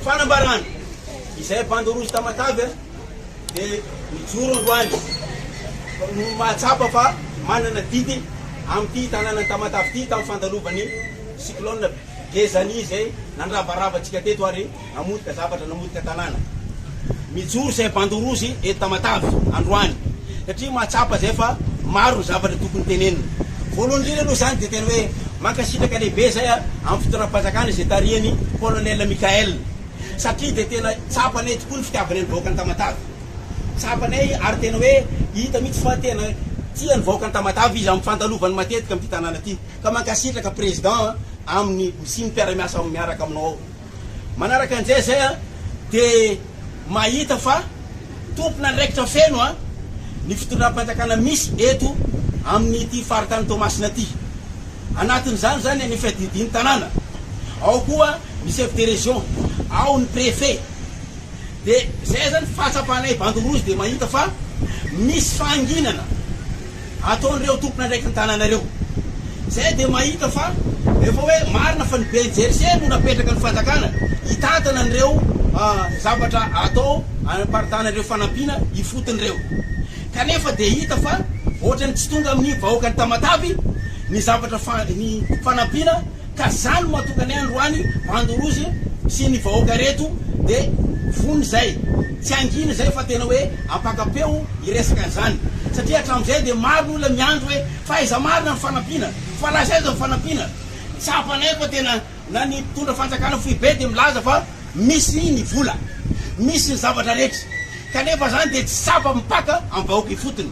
Fanambarana, Izay bandy rouge Tamatave dia mijoro androany no mahatsapa fa manana didy amin'ity tanànan'i Tamatave ity tamin'ny fandalovan'ny cyclone Gezani izay nandravarava antsika teto ary namotika zavatra, namotika tanàna. Mijoro izay bandy rouge eto Tamatave androany satria mahatsapa izay fa maro ny zavatra tokony tenenina. Voalohany indrindra aloha izany dia tena hoe mankasitraka lehibe izay amin'ny fitondram-panjakana izay tarihin'i Colonel Michael satria dia tena tsapanay tokoa ny fitiavany ny vahoakan'i Tamatave. Tsapanay ary tena hoe hita mihitsy fa tena tia ny vahoakan'i Tamatave izy amin'ny fandalovany matetika amin'ity tanàna ity. Ka mankasitraka Président amin'ny sy ny mpiara-miasa miaraka aminao ao. Manaraka an'izay izay dia mahita fa tompon'andraikitra feno ny fitondram-panjakana misy eto amin'ity faritany Toamasina ity. Anatin'izany izany ny fiadidian'ny tanàna, ao koa ny chef de région, ao ny préfet. Dia izay izany fahatsapanay bandy rouge dia mahita fa misy fahanginana. ataon'ireo tompon'andraiky ny tanàna ireo. Izay dia mahita fa efa hoe marina fa ny ben'ny Jersey no napetraka ny fanjakana hitantana an'ireo zavatra atao hanaparitahana ireo fanampiana ifotony ireo. Kanefa dia hita fa ohatran'ny tsy tonga amin'ny vahoakan'i Tamatave ny zavatra ny fanampiana Ka za no matoka ny androany Mandorozy sy ny vahoaka reto de vonona izay tsy hangina izay fa tena hoe ampakapeo ny resaka an'izany satria hatramizay de maro ny olona miandry hoe fa aiza marina ny fanampiana fa lasa aiza ny fanampiana tsapanay fa tena na ny mpitondra fanjakana foibe de milaza fa misy ny vola misy ny zavatra rehetra kanefa zany de tsy tsapa mipaka am vahoaka ifotony.